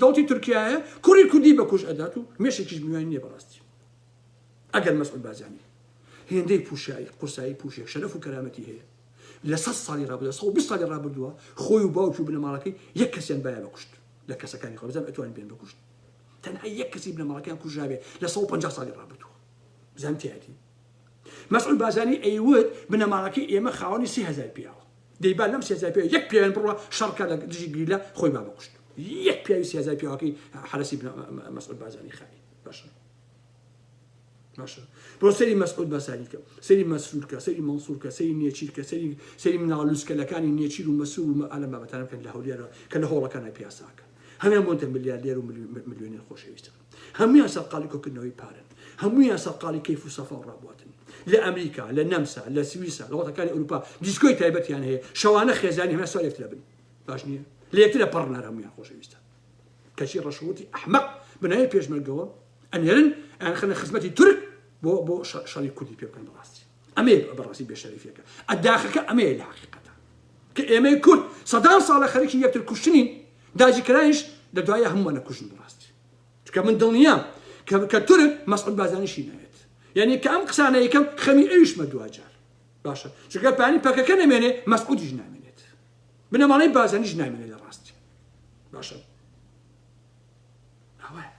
دەوڵەتی تورکیایە کوڕی کوردی بەکوژ ئەدات و مێشێکیش میوان نییە بەڕاستی ئەگەر مەسعود بارزانی هێندەی پوشایی قورسایی پوشێک شەرەف و کەرامەتی هەیە لە سە ساڵی ڕابوو لە سە ساڵی ڕابردووە خۆی و باوکی و بنەماڵەکەی یەک کەسیان بایە بەکوشت لە کەسەکانی خۆزان ئەتوان بێن بەکوشت تەنها یەک کەسی بنەماڵەکەیان کوژرابێت لە سەد و پەنجا ساڵی ڕابردووە بزانم تیاتی مەسعود بازانی ئەیوت بنەماڵەکەی ئێمە خاوەنی سی هزار پیاوە دەیبان لەم سێزار پێ یەک پێیان بڕە شەڕکە لە دژی گریلا خۆی با بکوشت یەک پیاوی سێزار پیاوەکەی حرەسی مەسعود بازانی خانی باشە باشە بۆ سەری مەسعود بەسانی کە سەری مەسرور کە سەری مەسور کە سەری نێچیر کە سەری سەری مناڵوسکەلەکانی نێچیر و مەسور و ئالە بابەتان بکەن لە هەولێرە کە لە هۆڵەکانە پیاساکە هەموان بۆنتە ملیاردێر و ملیۆنێر خۆشەویستە هەمویان سەرقالی کۆکردنەوەی پارن هەمویان سەرقالی کەیف و سەفا و ڕابواتن لە ئەمریکا لە نەمسا لە سویسا لە وڵاتەکانی ئەوروپا دیسکۆی تایبەتیان هەیە شەوانە خێزانی هەمە سوارێک لە بن باش نییە لە یەکترە پڕنار هەمویان خۆشەویستە کەچی ڕەشوتی ئەحمەق بنای پێشمەرگەوە ئەنێرن ئەیانخەنە خزمەتی تورک بۆ بۆ شەڕی کوردی پێ بکەن بەڕاستی ئەمەیە بەڕاستی بێشەریفەکە ئەداخەکە ئەمەیە لە حقیقەتە کە ئێمەی کورد سەدان ساڵە خەریکی یەکتر کوشتنین داجیکرایش لە دوایە هەمووانە کوژن بەڕاستی چکە من دڵنیام کە کە تورک مەسعود بازانیشی نایێت یعنی کە ئەم قسانە یەکەم خەمی ئەویشمە دواجار باشە چگە پانی پەکەکە نەمێنێ مەسعودیش نامێنێت بنەماڵەی بازانیش نامێنێت لە ڕاستی باشە ئەوەیە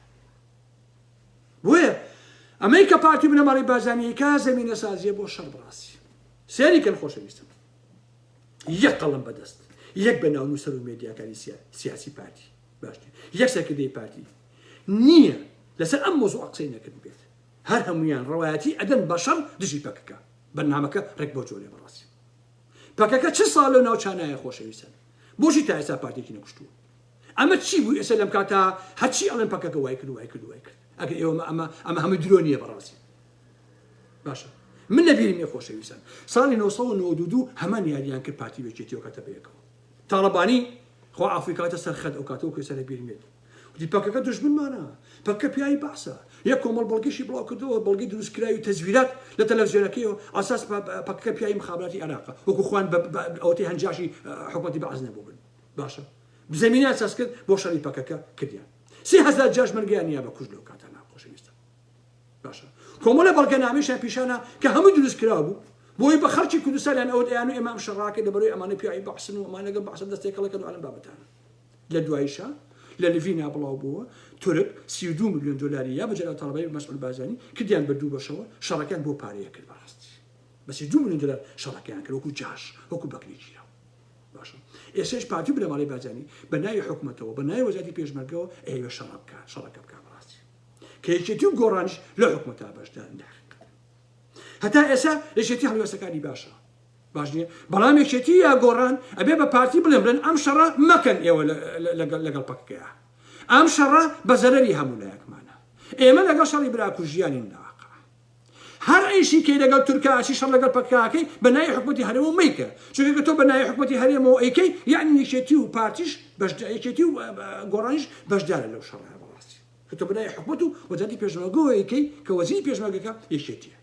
بۆیە ئەمەی کە پارتی بنەماڵەی بارزانیی کا زەمینە سازیە بۆ شەڕ بڕاسی سێری کەن خۆشەویستم یەک قەڵم بەدەست یەک بە ناو نووسەر و مێدیاکانی سیاسی پارتی باشتر یەک سەرکردەی پارتی نییە لەسەر ئەم مۆزوع قسەی نەکرد بێت هەر هەمویان ڕەوایەتی ئەدەن بە شەڕ دژی پەکەکە بەرنمەکە ڕێک بۆ جۆرێ بڕاسی پەکەکە چ ساڵ لەو ناوچانایە خۆشەویستن بۆشی تا ئێستا پارتێکی نەکوشتووە ئەمە چی بوو ئێسە لەم کاتا هەرچی ئەڵێن پەکەکە وای کرد وای کرد وای کرد ئەگەر ئێوە مە ئەمە ئەمە هەمووی درۆ نییە بەڕاستی باشە من لە بیرم یە خۆشەویستان ساڵی 1992 هەمان یاریان کرد پارتی وێکێتیەوە کاتە بەیەکەوە تاڵەبانی خۆ ئافریکاتە سەر خەت ئەو کاتەوە کوێسە لە بیرمێت وتی پەکەکە دژمنمانە پەکە پیاوی بەعسە یە کۆمەڵ بەڵگەشی بڵاو کردەوە بەڵگەی دروستکراوی و تەزویرات لە تەلەڤزیۆنەکەیەوە ئاساس پەکەکە پیاوی مخابراتی عێراقە وەکو خوان ئەوەتی هەنجاشی حکومەتی بەعس نەبوو بن باشە زەمینە ئەساس کرد بۆ شەڕی پەکەکە کردیان سێ هەزار جاش مەرگیان نیا بە کوژ لەو کاتە نا خۆشەویستە باشە کۆمەڵە بەڵگەنامەیشیان پیشانە کە هەموو دروست کرا بوو بۆی بە خەڵکی کوردستانیان ئەوت ئەیان و ئێمام شەڕاکە لەبەروی ئەمانە پیاوی بەحسن و ئەمانەگە بەحسە دەستێکەڵەکە دوالم بابەتانە لە دوایشە لە لڤینا بڵاو بووە تورک سی دو میلیۆن دلاری یا بەجێرا تاڵبای مەسعود بازانی کردیان بە دوو بەشەوە شەڕەکەیان بۆ پارەیە کرد بەڕاستی بەسی دو میلیۆن دلار شەڕەکەیان کرد وەکو جاش وەکو بەکرێکی باشە ئێسش پارتی بنەماڵەی بارزانی بە ناوی حکومەتەوە بە ناوی وەزاتی پێشمەرگەوە ئەیەوێ شەڕە بکە شەڕەکە بکە بەڕاستی کە یەکێتی و گۆڕانش لە حکومەتا بەشدارن لە حقیقەت هەتا ئێسا یەکێتی هەڵوێستەکانی باشە باش نییە بەڵام یەکێتی یا گۆڕان ئەبێ بە پارتی بڵێن بڵێن ئەم شەڕە مەکەن ئێوە لەگەڵ پەکەکەیە ئەم شەڕە بە زەرەری هەموو لایەکمانە ئێمە لەگەڵ شەڕی براکوژیانین لاقا هەر عیشی کەی لەگەڵ تورکا ئەچی شەڕ لەگەڵ پەککە ئەکەی بە ناوی حکومەتی هەرێمەوە مەیکە چونکە گەر تۆ بە ناوی حکومەتی هەرێمەوە ئەیکەی یەعنی یەکێتی و پارتیش بەشدار یەکێتی و گۆڕانیش بەشدارە لەو شەڕە بەڕاستی کە تۆ بە ناوی حکومەت و وەزارەتی پێشمەرگەوە ئەیکەی کە وەزیری پێشمەرگەکە یەکێتیە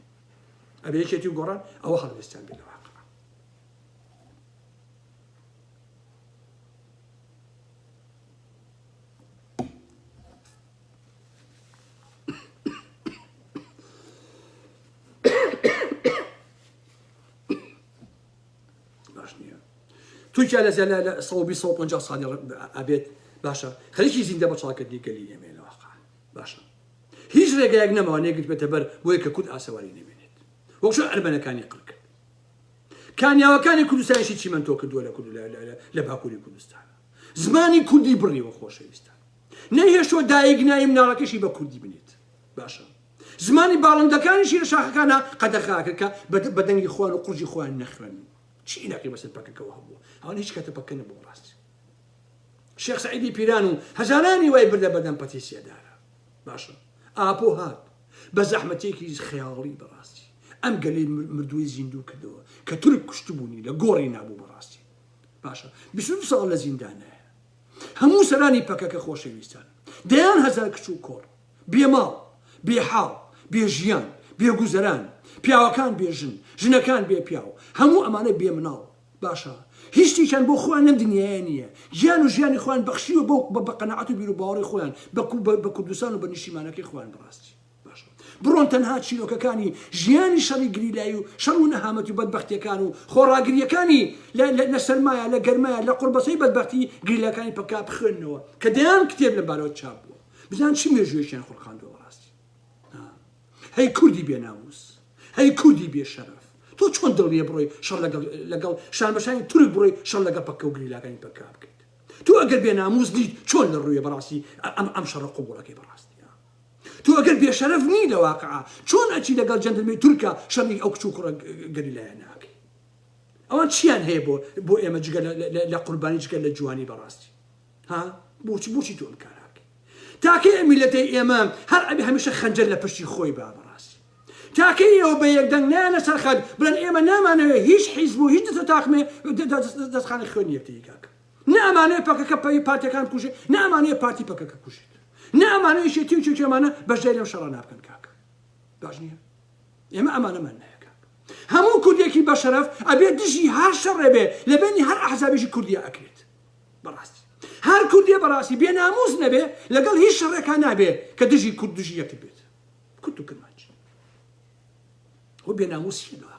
ئەبێ یەکێتی و گۆڕان ئەوە هەڵوێستیان بێت لە واقع تورکیا لە زیاد لە 150 ساڵی ئەبێت باشە خەریکی زیندە بە چاکردنی گەلی ئێمە لە واقع باشە هیچ ڕێگایەک نەماوە نێگرت بێتە بەر بۆیە کە کورد ئاسەواری نەمێنێت وەکشە ئەرمەنەکانی قڕ کرد کانیاوەکانی کوردستانشی چیمەندۆ کردووە لە کورد لە باکووری کوردستان زمانی کوردی بڕیوە خۆشەویستان نەیهێشتووە دایک ناوی مناڵەکەشی بە کوردی بنێت باشە زمانی باڵندەکانیشی لە شاخەکانە قەدەخا کرد کە بە دەنگی خوان و قورجی خوان نەخوێن چی ئیلاقی بەسەر پەکەکەەوە هەبوو ئەوان هیچ کاتە پەکە نەبوو ڕاست شێخ سعیدی پیران و هەزارانی وای بردە بەدەم پەتیسیەدارە باشە ئاپۆ هات بە زەحمەتێکی خەیاڵی بەڕاستی ئەم گەلی مردووی زیندوو کردەوە کە تورک کوشتبوونی لە گۆڕی نابوو بەڕاستی باشە بیست ساڵ لە زیندانە هەموو سەرانی پەکەکە خۆشەویستان. دەیان هەزار کچ و کۆڕ، بێ ماڵ، بێ حاڵ، بێ ژیان، بێ گوزەران، پیاوەکان بێ ژن، ژنەکان بێ پیاو، هەموو ئەمانە بێ مناڵ. باشە، هیچ شتێکیان بۆ خۆیان لەم دنیایە نییە. گیان و ژیانی خۆیان بەخشیوە بەو بە قەناعەت و بیروباوەڕی خۆیان بە کوردستان و بە نیشتیمانەکەی خۆیان بەڕاستی. باشە بڕۆن تەنها چیرۆکەکانی ژیانی شەڕی گریلایی و شەڕ و نەهامەتی و بەدبەختیەکان و خۆڕاگریەکانی لە سەرمایە لە گەرمایە لە قوڕبەسەی بەدبەختی گریلاکانی پککا بخوێننەوە کە دەیان کتێب لەم بارەوە چاپ بووە بزان چ مێژوویەکیان خولقاندوە بەڕاستی هەی کوردی بێ ناموس هەی کوردی بێ شەرەف تۆ چۆن دڵیە بڕۆی شەڕ لەگەڵ شانبەشانی تورک بڕۆی شەڕ لەگە پککە و گریلاکانی پککا بکەیت تۆ ئەگەر بێ ناموس دیت چۆن لە ڕوویە بەڕاستی ئەم ئەم شەڕە قوبوڵەکەی بەڕاستی تۆ ئەگەر بێشەرەف نی لە واقعا چۆن ئەچی لەگەڵ جەندرمەی تورکا شەڕی ئەو کچ و کوڕە گەریلایانە ئەکەی ئەوان چیان هەیە بۆ بۆ ئێمە جگە لە قوربانی جگە لە جوانی بەڕاستی ها بۆچی بۆچی تۆ ئەم کاراکەی تاکەی ئەمیلەتەی ئێمە هەر ئەبی هەمیشە خەنجەر لە پشتی خۆی با بەڕاستی تاکەی ئەوە بە یەکدەنگ نیان لەسەر خەت بڵێن ئێمە نامانەوێ هیچ حیزب و هیچ دەسە تاقمێ دەستخانە خوێنی یەکتری کاکە نە ئەمانەوێت پەکەکە پەی پارتەکان بکوژێت نە ئەمانەوێت پارتی پەکەکە بکوژێت نە ئەمانەوێت یەکێتی و کێکێمانە بەشداری لەم شەڕانە بکەن کاک باش نییە ئێمە ئەمانەمان ناوێت کاک هەموو کوردێکی بەشەرەف ئەبێ دژی هەر شەڕێ بێ لە بینی هەر ئەحزابێکی کوردیا ئەکرێت بەڕاستی هەر کوردێ بەڕاستی بێ ناموس نەبێ لەگەڵ هیچ شەڕێکا نابێ کە دژی کورد دژی یەکتر بێت کورد و کرمانج و بێ ناموسی لە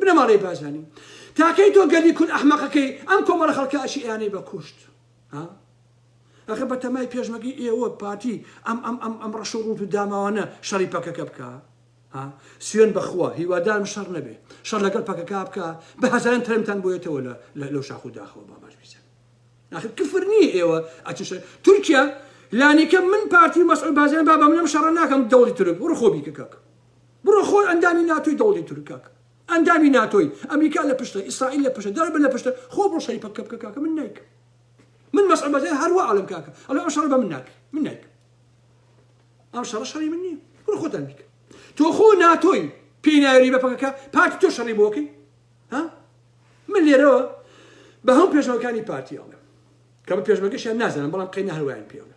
بنەماڵەی بارزانی تاکەی تۆ گەلی کورد ئەحمەقەکەی ئەم کۆمەڵە خەڵکە ئەچی ئەیانەی بە کوشت ها ئەخە بە تەمای پێشمەگەی ئێوە پارتی ئەم ئەم ئەم ئەم ڕەش و ڕوت و داماوانە شەڕی پەکەکە بکە ها سوێن بەخوا هیوادارم شەڕ نەبێ شەڕ لەگەڵ پەکەکە بکە بە هەزاران تەرمتان بۆیەتەوە لە لەو شاخ و داخەوە باباش بیزن ئەخر کفر نییە ئێوە ئەچشە تورکیا لانیکە من پارتی مەسعود بازیان بابا منم شەڕ ناکەم دەوڵی تورک وڕخۆ بیکەکەک بڕۆ خۆر ئەندامی ناتۆی دەوڵی تورکەک ئەندامی ناتۆی ئەمریکا لە پشتە ئیسرائیل لە پشتە دەرەبە لە پشتە خۆ بڕۆ شەری پەککە بکە کاکە من نایکەم من مەسعود بەرزانی هەر وا ئەڵێم کاکە ئەڵێ ئەم شەڕە بە من ناکرێ من نایکەم ئەم شەڕە شەڕی من نییە بڕۆ خۆتان بیکە تۆ خۆ ناتۆی پێی ناوێری بە پەکەکە پارتی تۆ شەڕی بۆکەی ها من لێرەوە بە هەم پێشەوەکانی پارتی ئەڵێم کە بە پێشمەکەشیان نازانم بەڵام قەینا هەروایان پێڵێ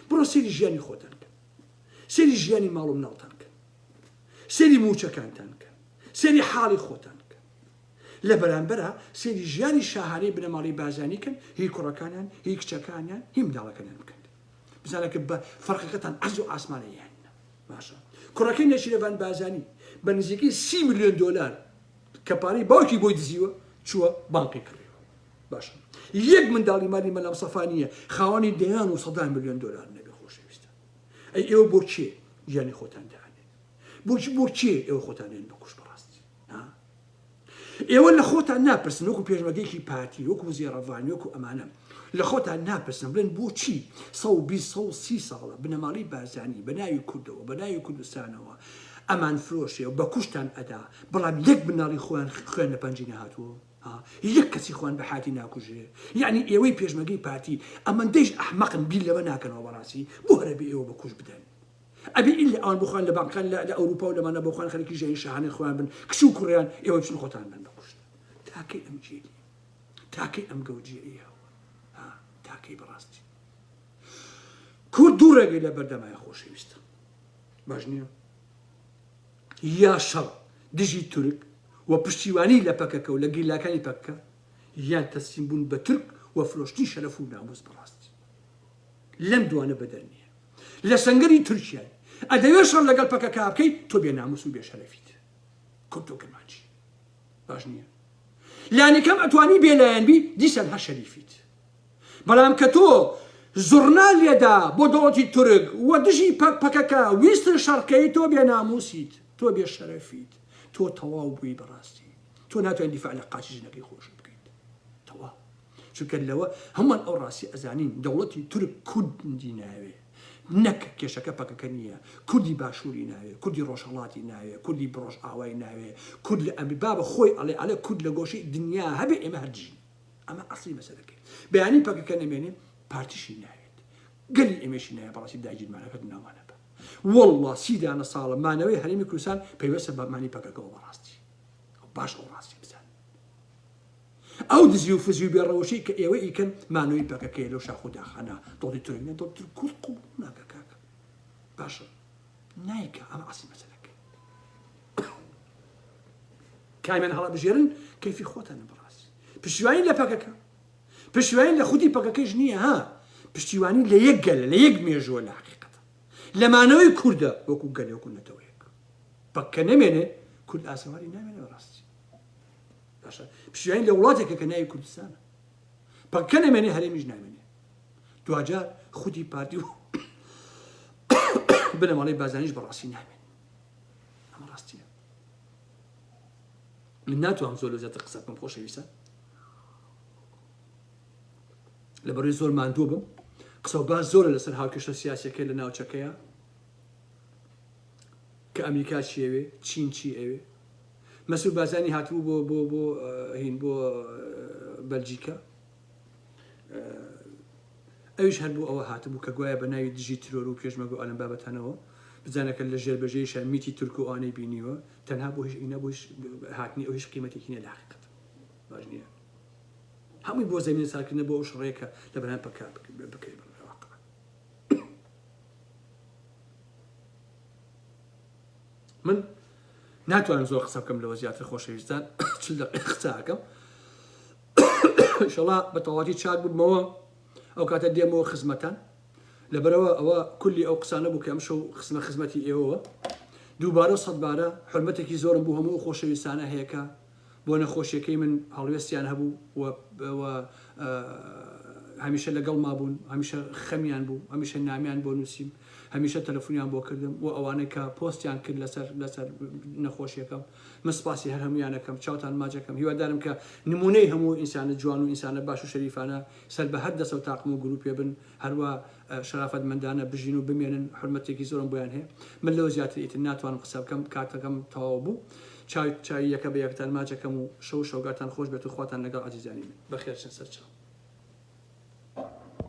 بڕۆ سێری ژیانی خۆتان سەیری ژیانی ماڵ و مناڵتان بکەن سەیری موچەکانتان بکەن سەیری حاڵی خۆتان بکەن لە بەرامبەرا سەیری ژیانی شاهانەی بنەماڵەی بارزانی کەن هی کوڕەکانیان هی کچەکانیان هی منداڵەکانیان بکەن بزانە کە بە فەرقەکەتان عەرز و ئاسمانە یان باشە کوڕەکەی نەشیرەڤان بازانی بە نزیکەی سی ملیۆن دۆلار کە پارەی باوکی بۆی دزیوە چووە بانقی کڕیوە باشە یەک منداڵی مالی مەلام سەفا نییە خاوەنی دەیان و سەدان ملیۆن دۆلار نەبێ خۆشەویستە ئەی ئێوە بۆ چێ گیانی خۆتان دانێ بۆچ بۆ چێ ئێوە خۆتانێن بە کوش بەڕاستی ئێوە لە خۆتان ناپرسن وەکو پێشمەگەیکی پارتی وەکو زێڕەڤانی وەکو ئەمانە لە خۆتان ناپرسن بڵێن بۆچی سە سی ساڵە بنەماڵی بارزانانی بە ناوی کوردەوە بە ناوی کوردستانەوە ئەمان فرۆشێ و بە کوشتان ئەدا بەڵام یەک بناڵی خۆیان خوێن لە پەنجی نهاتووە ها یەک کەسی خۆیان بە حاتی ناکوژێ یەعنی ئێوەی پێشمەگەی پارتی ئەمەندەیش ئەحمەقن بیر لەمە ناکەنەوە بەڕاستی بۆ هەرەبێ ئێوە بە کوژ بدەن ئەبێ ئیلا ئەوان بۆخۆیان لە بانکەکان لە لە ئەوروپا و لەمانە بۆخۆیان خەریکی ژیانی شاهانەی خۆیان بن کچ و کوڕیان ئێوە بچن خۆتان بن بە کوشت تاکەی ئەم جێلی تاکەی ئەم گەوجیەیە ها تاکەی بەڕاستی کورد دوو ڕێگەی لە بەردەمای خۆشەویستە باش نییە یا شەڕ دژی تورک و پشتیوانی لە پەکەکە و لە گیرلاکانی پەککە یان تەسلیم بوون بە تورک و فرۆشتنی شەرەف و ناموس بەڕاستی لەم دوانە بەدەر نیە لە سەنگەری تورکیای ئەدەوێ شەڕ لەگەڵ پەکەکە بکەی تۆ بێ ناموس و بێ شەرەفیت کورد و کرمانجی باش نیە لانیکەم ئەتوانی بێ لایەن بی دیسان هەر شەریفیت بەڵام کە تۆ زوڕنا لێدا بۆ دەوڵەتی تورک و دژی پە پەکەکە ویستن شەڕکەی تۆ بێ ناموسیت تۆ بێ شەرەفیت تۆ تەواو بوی بەڕاستی تۆ ناتوانی دیفاع لە قاچی ژنەکەی خۆشت بکەیت تەواو چونکە لەوە هەموان ئەو ڕاستی ئەزانین دەوڵەتی تورک کوردی ناوێ نەک کێشەکە پەکەکە نییە کوردی باشووری ناوێ کوردی ڕۆژهەڵاتی ناوێ کوردی بڕۆژ ئاوای ناوێ کورد لە ئەمری بابە خۆی ئەڵێ ئەڵێ کورد لە گۆشەی دنیا هەبێ ئێمە هەردژین ئەمە ئەسڵی مەسەلەکەی بەیانی پەکەکە نەمێنێ پارتیشی ناوێت گەلی ئەمێشی نایە بەڕاستی داگیرمانەکەت ناوانە بە والله سیدانە ساڵە مانەوەی هەرمی کوردستان پەیوەسە بەمانی پەکەکەەوە بەڕاستی باش ئەو ڕاستی بزان ئەو دزی و فزی و بێڕەوەشی کە ئێوە ئیکەن مانەوەی پەکەکەی لەو شاخ و داخانە دڵی تۆینە دڵتر کورد قوڵ ناکە کاکە باشە نایکە ئەمە عسی مەسەلەکە کامیان هەڵەبژێرن کەیفی خۆتان بڕاست پشتیوانی لە پەکەکە پشتیوانی لە خودی پەکەکەش نییە ها پشتیوانی لە یەک گەل لە یەک مێژووە لە حقیقەت لەمانەوەی کووردە وەکو گەلێکو نەتەوەیەک پەککە نەمێنێ کورد ئاسەواری نامێنێ ڕاستی باشە پشتیوانی لە وڵاتێکە کە ناوی کوردستانە پەککە نەمێنێ هەرێمیش نامێنێ دواجار خودی پارتی و بنەماڵی بازانیش بەڕاستی نامێنێ ئەمە ڕاستیە من ناتوانم زۆر لە زیاتر قسە بکەم خۆشەویستە لە بەروی زۆر ماندوو بم قسە و باز زۆرە لەسەر هاوکێشە سیاسەکە لە ناوچەکەیە کە ئەمریکا چیەوێ چین چی ئەوێ مەسور بازانی هاتبوو بۆ بۆ بۆ هین بۆ بەلجیکە ئەویش هەر بۆ ئەوە هاتبوو کە گوایە بە ناوی دژی ترۆر و پێشمەگە و ئالەم بابەتانەوە بزانەکە لە ژێربەژێریشا میتی تورک و ئەوانەی بینیوە تەنها بۆ هیچ ئینە بۆ هیچ هاتنی ئەو هیچ قیمەتێکی نیە لە حقیقەت باش نییە هەمووی بۆ زەمین ساکردنە بۆ ئەو شڕێکە لە بەران پەکا بکەی بە من ناتوانم زۆر قسە بکەم لەوە زیاتر خۆشەویستان چل دقیقە قسە ئەکەم ئیشەڵا بە تەواوەتی چاک ببمەوە ئەو کاتە دێمەوە خزمەتان لەبەرەوە ئەوە کولی ئەو قسانە بوو کە ئەم شەو خزمە خزمەتی ئێوەوە دووبارە سەدبارە حرمەتێکی زۆرم بوو هەموو خۆشەویستانە هەیەکە بۆ نەخۆشیەکەی من هەڵوێستیان هەبوو و هەمیشە لەگەڵ مابوون هەمیشە خەمیان بوو هەمیشە نامیان بۆ نووسیم هەمیشە تەلەفۆنیان بۆ کردم و ئەوانەی کە پۆستیان کرد لەسەر لەسەر نەخۆشیەکەم من سپاسی هەر هەموویان ئەکەم چاوتان ماچ ئەکەم هیوادارم کە نموونەی هەموو ئینسانە جوان و ئینسانە باش و شەریفانە سەر بە هەر دەستەو تاقم و گروپێ بن هەروا شەرافەت مەندانە بژین و بمێنن حورمەتێکی زۆرم بۆیان هەیە من لەوە زیاتر ئیتر ناتوانم قسە بکەم کاتەکەم تەواو بوو چاوی چاوی یەکە بە یەکتان ماچ ئەکەم و شەو و شەوگاتان خۆش بێت و خواتان لەگەڵ ئازیزانی من بەخێرچن سەرچاو.